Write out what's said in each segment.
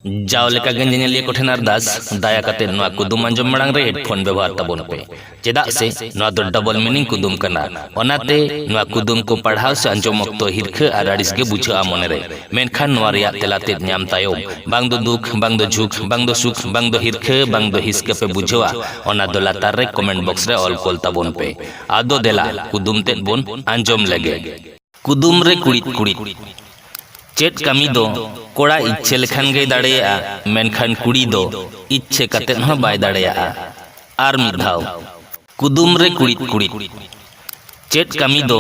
ᱡᱟᱣ ᱞᱮᱠᱟ ᱜᱮ ᱧᱮᱧᱮᱞᱤᱭᱟᱹ ᱠᱚᱴᱷᱮᱱ ᱟᱨᱫᱟᱥ ᱫᱟᱭᱟ ᱠᱟᱛᱮ ᱱᱚᱣᱟ ᱠᱩᱫᱩᱢ ᱟᱸᱡᱚᱢ ᱢᱟᱲᱟᱝ ᱨᱮ ᱦᱮᱰᱯᱷᱳᱱ ᱵᱮᱵᱚᱦᱟᱨ ᱛᱟᱵᱚᱱ ᱯᱮ ᱪᱮᱫᱟᱜ ᱥᱮ ᱱᱚᱣᱟ ᱫᱚ ᱰᱚᱵᱚᱞ ᱢᱤᱱᱤᱝ ᱠᱩᱫᱩᱢ ᱠᱟᱱᱟ ᱚᱱᱟᱛᱮ ᱱᱚᱣᱟ ᱠᱩᱫᱩᱢ ᱠᱚ ᱯᱟᱲᱦᱟᱣ ᱥᱮ ᱟᱸᱡᱚᱢ ᱚᱠᱛᱚ ᱦᱤᱨᱠᱷᱟᱹ ᱟᱨ ᱟᱹᱲᱤᱥ ᱜᱮ ᱵᱩᱡᱷᱟᱹᱜᱼᱟ ᱢᱚᱱᱮ ᱨᱮ ᱢᱮᱱᱠᱷᱟᱱ ᱱᱚᱣᱟ ᱨᱮᱭᱟᱜ ᱛᱮᱞᱟ ᱛᱮᱫ ᱧᱟᱢ ᱛᱟᱭᱚᱢ ᱵᱟᱝ ᱫᱚ ᱫᱩᱠ ᱵᱟᱝ ᱫᱚ ᱡᱷᱩᱠ ᱵᱟᱝ ᱫᱚ ᱥᱩᱠ ᱵᱟᱝ ᱫᱚ ᱦᱤᱨᱠᱷᱟᱹ ᱵᱟᱝ ᱫᱚ ᱦᱤᱥᱠᱟᱹ ᱯᱮ ᱵᱩᱡᱷᱟᱹᱣᱟ ᱚᱱᱟ ᱫᱚ ᱞᱟᱛᱟᱨ ᱨᱮ ᱠᱚᱢᱮᱱᱴ ᱵᱚᱠᱥ ᱨᱮ ᱚᱞ ᱠᱚᱞ ᱛᱟᱵᱚᱱ ᱯᱮ ᱟᱫᱚ ᱫᱮᱞᱟ ᱠᱩᱫᱩᱢ ᱛᱮᱫ ᱵᱚᱱ ᱟᱸᱡᱚᱢ ᱞᱮᱜᱮ ᱠᱩᱫᱩᱢ ᱨᱮ ᱠᱩᱲᱤᱫ ᱠᱩᱲᱤᱫ ᱪᱮᱫ ᱠᱟᱹᱢᱤ ᱫᱚ ᱠᱚᱲᱟ ᱤᱪᱪᱷᱟᱹ ᱞᱮᱠᱷᱟᱱ ᱜᱮᱭ ᱫᱟᱲᱮᱭᱟᱜᱼᱟ ᱢᱮᱱᱠᱷᱟᱱ ᱠᱩᱲᱤ ᱫᱚ ᱤᱪᱪᱷᱟᱹ ᱠᱟᱛᱮ ᱦᱚᱸ ᱵᱟᱭ ᱫᱟᱲᱮᱭᱟᱜᱼᱟ ᱟᱨ ᱢᱤᱫ ᱫᱷᱟᱣ ᱠᱩᱫᱩᱢ ᱨᱮ ᱠᱩᱲᱤᱫ ᱠᱩᱲᱤᱫ ᱪᱮᱫ ᱠᱟᱹᱢᱤ ᱫᱚ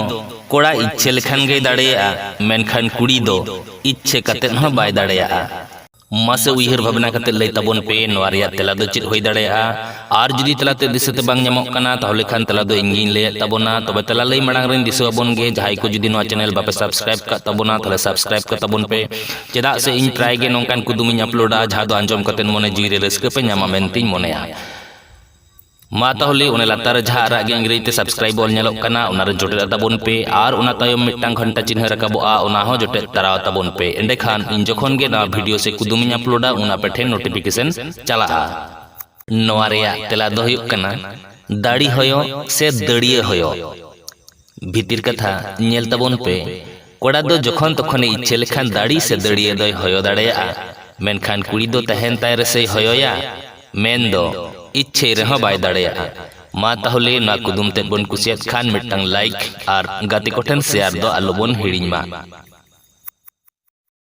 ᱠᱚᱲᱟ ᱤᱪᱪᱷᱟᱹ ᱞᱮᱠᱷᱟᱱ ᱜᱮᱭ ᱫᱟᱲᱮᱭᱟᱜᱼᱟ ᱢᱮᱱᱠᱷᱟᱱ ᱠᱩᱲᱤ ᱫᱚ ᱤᱪᱪᱷᱟᱹ ᱠᱟᱛᱮ ᱦᱚᱸ ᱵᱟᱭ ᱫᱟᱲᱮᱭᱟᱜᱼᱟ ᱢᱟᱥᱮ ᱩᱭᱦᱟᱹᱨ ᱵᱷᱟᱵᱽᱱᱟ ᱠᱟᱛᱮ ᱞᱟᱹᱭ ᱛᱟᱵᱚᱱ ᱯᱮ ᱱᱚᱣᱟ ᱨᱮᱭᱟᱜ ᱛᱮᱞᱟ ᱫᱚ ᱪᱮᱫ ᱦᱩᱭ ᱫᱟᱲᱮᱭᱟᱜᱼᱟ ᱟᱨ ᱡᱩᱫᱤ ᱛᱮᱞᱟᱛᱮ ᱫᱤᱥᱟᱹᱛᱮ ᱵᱟᱝ ᱧᱟᱢᱚᱜ ᱠᱟᱱᱟ ᱛᱟᱦᱚᱞᱮ ᱠᱷᱟᱱ ᱛᱮᱞᱟ ᱫᱚ ᱤᱧ ᱜᱤᱧ ᱞᱟᱹᱭᱮᱫ ᱛᱟᱵᱚᱱᱟ ᱛᱚᱵᱮ ᱛᱮᱞᱟ ᱞᱟᱹᱭ ᱢᱟᱲᱟᱝ ᱨᱮᱧ ᱫᱤᱥᱟᱹ ᱟᱵᱚᱱ ᱜᱮ ᱡᱟᱦᱟᱸᱭ ᱠᱚ ᱡᱩᱫᱤ ᱱᱚᱣᱟ ᱪᱮᱱᱮᱞ ᱵᱟᱯᱮ ᱥᱟᱵᱥᱠᱨᱟᱭᱤᱵ ᱠᱟᱜ ᱛᱟᱵᱚᱱᱟ ᱛᱟᱦᱚᱞᱮ ᱥᱟᱵᱥᱠᱨᱟᱭᱤᱵ ᱠᱟᱜ ᱛᱟᱵᱚᱱ ᱯᱮ ᱪᱮᱫᱟᱜ ᱥᱮ ᱤᱧ ᱯᱨᱟᱭ ᱜᱮ ᱱᱚᱝᱠᱟᱱ ᱠᱩᱫᱩᱢᱤᱧ ᱟᱯᱞᱳᱰᱟ ᱡᱟᱦᱟᱸ ᱫᱚ ᱟᱸᱡᱚᱢ ᱠᱟᱛᱮ ᱢᱚᱱᱮ ᱡᱤᱣᱤ ᱨᱮ ᱨᱟᱹᱥᱠᱟᱹ ᱯᱮ ᱧᱟᱢᱟ ᱢᱮᱱᱛᱮᱧ ᱢᱚᱱᱮᱭᱟ ᱢᱟ ᱛᱟᱦᱚᱞᱮ ᱚᱱᱟ ᱞᱟᱛᱟᱨ ᱨᱮ ᱡᱟᱦᱟᱸ ᱟᱨᱟᱜ ᱜᱮ ᱤᱝᱨᱮᱡᱤ ᱛᱮ ᱥᱟᱵᱥᱠᱨᱟᱭᱤᱵ ᱚᱞ ᱧᱮᱞᱚᱜ ᱠᱟᱱᱟ ᱚᱱᱟ ᱨᱮ ᱡᱚᱴᱮᱫ ᱛᱟᱵᱚᱱ ᱯᱮ ᱟᱨ ᱚᱱᱟ ᱛᱟᱭᱚᱢ ᱢᱤᱫᱴᱟᱝ ᱜᱷᱚᱱᱴᱟ ᱪᱤᱱᱦᱟᱹ ᱨᱟᱠᱟᱵᱚᱜᱼᱟ ᱚᱱᱟ ᱦᱚᱸ ᱡᱚᱴᱮᱫ ᱛᱟᱨᱟᱣ ᱛᱟᱵᱚᱱ ᱯᱮ ᱮᱸᱰᱮᱠᱷᱟᱱ ᱤᱧ ᱡᱚᱠᱷᱚᱱ ᱜᱮ ᱱᱟᱣᱟ ᱵᱷᱤᱰᱤᱭᱳ ᱥᱮ ᱠᱩᱫᱩᱢ ᱤᱧ ᱟᱯᱞᱳᱰᱟ ᱩᱱ ᱟᱯᱮ ᱴᱷᱮᱱ ᱱᱳᱴᱤᱯᱷᱤᱠᱮᱥᱚᱱ ᱪᱟᱞᱟᱜᱼᱟ ᱱᱚᱣᱟ ᱨᱮᱭᱟᱜ ᱛᱮᱞᱟ ᱫᱚ ᱦᱩᱭᱩᱜ ᱠᱟᱱᱟ ᱫᱟᱲᱤ ᱦᱚᱭᱚ ᱥᱮ ᱫᱟᱹᱲᱤᱭᱟᱹ ᱦᱚᱭᱚ ᱵᱷᱤᱛᱤᱨ ᱠᱟᱛᱷᱟ ᱧᱮᱞ ᱛᱟᱵᱚᱱ ᱯᱮ ᱠᱚᱲᱟ ᱫᱚ ᱡᱚᱠᱷᱚᱱ ᱛᱚᱠᱷᱚᱱᱮ ᱤᱪᱪᱷᱟᱹ ᱞᱮᱠᱷᱟᱱ ᱫᱟᱲᱤ ᱥᱮ ᱫᱟᱹᱲᱤᱭᱟᱹ ᱫᱚᱭ ᱦᱚᱭᱚ ᱫᱟᱲᱮᱭᱟᱜᱼᱟ ᱢᱮᱱᱠᱷᱟᱱ ᱠᱩᱲᱤ ᱫᱚ ᱛᱟᱦᱮᱱ ᱛᱟᱭ ᱨᱮᱥᱮᱭ ᱦᱚᱭᱚᱭᱟ ᱢᱮᱱ ᱫᱚ ᱤᱪᱪᱷᱟᱹᱭ ᱨᱮᱦᱚᱸ ᱵᱟᱭ ᱫᱟᱲᱮᱭᱟᱜᱼᱟ ᱢᱟ ᱛᱟᱦᱚᱞᱮ ᱱᱚᱣᱟ ᱠᱩᱫᱩᱢ ᱛᱮᱫ ᱵᱚᱱ ᱠᱩᱥᱤᱭᱟᱫ ᱠᱷᱟᱱ ᱢᱤᱫᱴᱟᱝ ᱞᱟᱭᱤᱠ ᱟᱨ ᱜᱟᱛᱮ ᱠᱚᱴᱷᱮᱱ ᱥᱮᱭᱟᱨ ᱫᱚ ᱟᱞᱚ ᱵᱚᱱ ᱦᱤᱲᱤᱧ ᱢᱟ